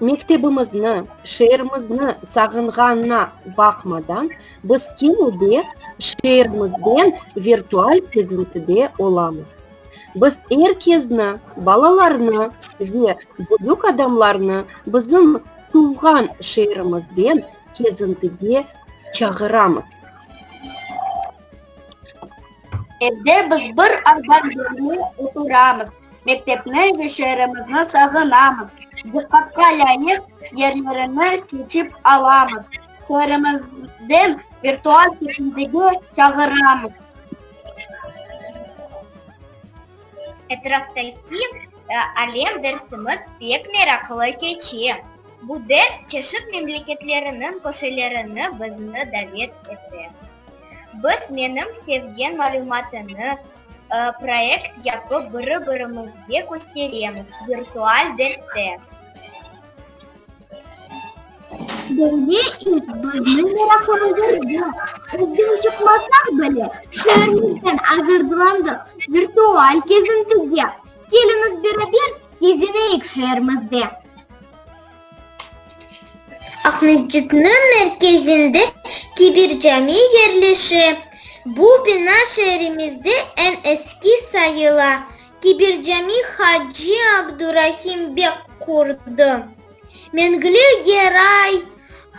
Mektebimizni, şeerimizni sağınğanına baqmadan, biz kene de şeerimizden virtual kezintide olamız. Biz er kezni, balalarnı ve büyük adamlarnı bizim tuvğan şeerimizden kezintige çağıramız. Evde biz bir arba yerine oturamız. Mektepni ve şeerimizni sağınamız, diqqatqa lâyıq yerlerini seçip alamız, şeerimizden virtual ketingdege çağıramız. Etraftaki alem dersimiz pek meraqlı keçe. Bu ders çeşit memleketleriniñ köşelerini bizni davet ete. Biz menim sevgen malümatını, Proyekt yapıp biri-birimizge kösteremiz, virtual derste. Böyle ilk bizniñ meraqımızırdı. Özden çıqmasaq bile, şeerimizden azırdılandıq. Virtual kezintiye. Keliñiz beraber kezineyik şeerimizde. Aqmescitniñ merkezinde Kibir Cami yerleşe. Bu bina şeerimizde eñ eski sayıla. Kibir Cami Hacı Abdurahim bek qurdı. Mengli Geray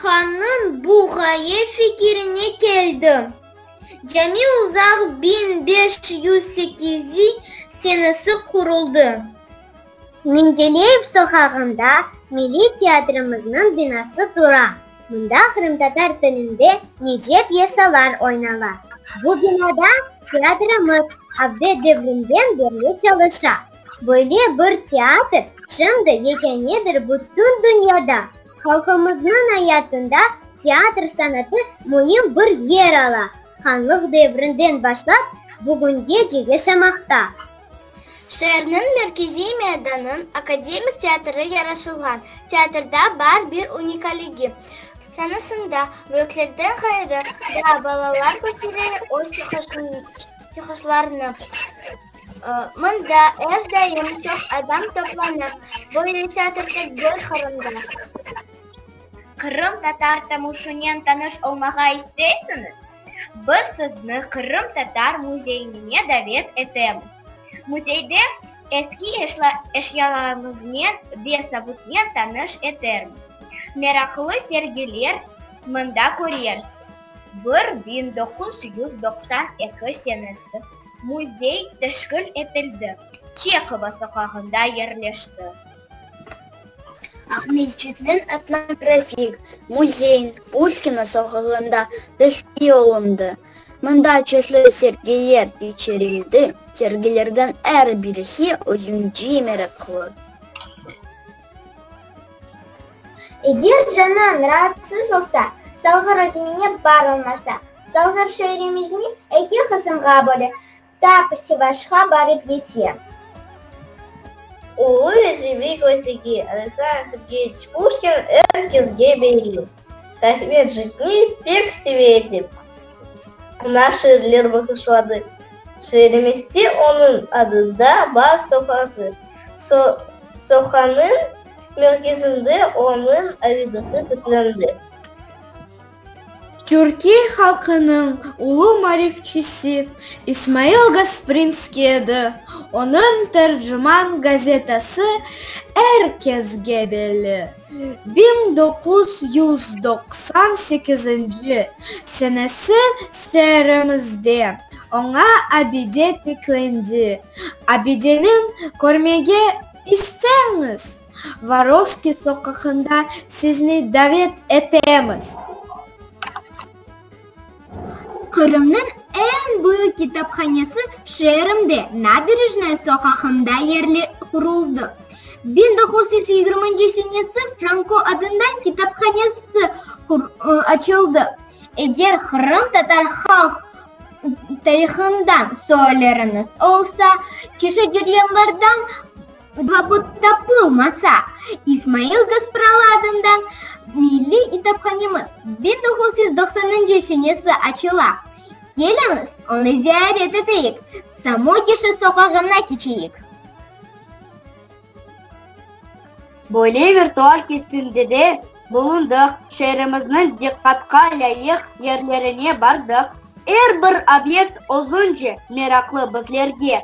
hannıñ bu ğaye fikirine keldi. Cami uzaq biñ beş yüz sekizi senesi quruldı. Mendeleyev soqağında Milliy teatrımıznıñ binası tura. Mında qırımtatar tilinde nice pyesalar oynala. Bu binada teatrımız Abde devrinden berli çalışa. Böyle bir teatr şimdi yekânedir bütün dünyada. Halqımıznıñ ayatında teatr sanatı müim bir yer ala, hanlıq devrinden başlap bugünge yaşamaqta. Şeerniñ merkeziy meydanınıñ akademik teatrı yaraşılğan teatrda bar bir unikaligi, sanasında büyüklerden ğayrı da balalar kösterere öz çıqışlarını. Mında er daim çoq adam toplanır, böyle teatrda döl Qırımda. Qırımtatar tamuşınen tanış olmağa isteysiñiz? Biz sizni Qırım Tatar müzeyinine davet etemiz. Müzeyde eski eşyalarımıznen ve sabutnen tanış etermiz. Meraqlı sergiler mında körersiz. Bir biñ doquz yüz doqsan eki senesi müzey teşkil etildi, Çehova soqağında yerleşti. Aqmescitniñ etnografik müzeyin Pushkina soğağında teşkil olundı. Mında çeşli sergiler keçirildi, sergilerden er birisi özünce meraqlı. Eger canıñ raatsız olsa, salğır özüñe bar olmasa, salğır şeerimizni eki qısımğa böle, Ta ki Sivaşqa barıp yetse. Ulu rezivi kösegi Rıza Ahıtgeriç Puşkin er kesge beriv. Tahmir jitni pek seve edip, oña şiirler bağışladı. Şiirimizde onıñ adında bar soqağı. Soqağınıñ merkezinde onıñ avidosı tiklendi. Türkiye halqınıñ ulu marifçisi İsmail Gasprinskiy edi, onıñ Tercüman gazetası er kezge belli. Biñ doquz yüz doqsan sekizinci senesi şeerimizde oña abide tiklendi. Abideniñ körmege isteñiz! Vorovskiy soqağında sizni davet etemiz! Qırımnıñ eñ büyük kitaphanesi şeerimde, Nabirejnaya soqağında yerli quruldı. Biñ doquz yüz yigirminci senesi Franko adında kitaphanesi açıldı. Eger qırımtatar halq tarihından soğalleriñiz olsa, çeşit ceryanlardan Vabıt tapılmasa, İsmail Gaspralı adından milliy kitaphanemiz bir toquz yüz doqsanıncı senesi açıla. Keliñiz, onı ziyaret eteyik, Samogişı soqağına keçeyik. Böyle virtual kesimde de bulundıq, şeerimizniñ diqqatqa lâyıq yerlerine bardıq. Er bir obyekt özünce meraqlı bizlerge.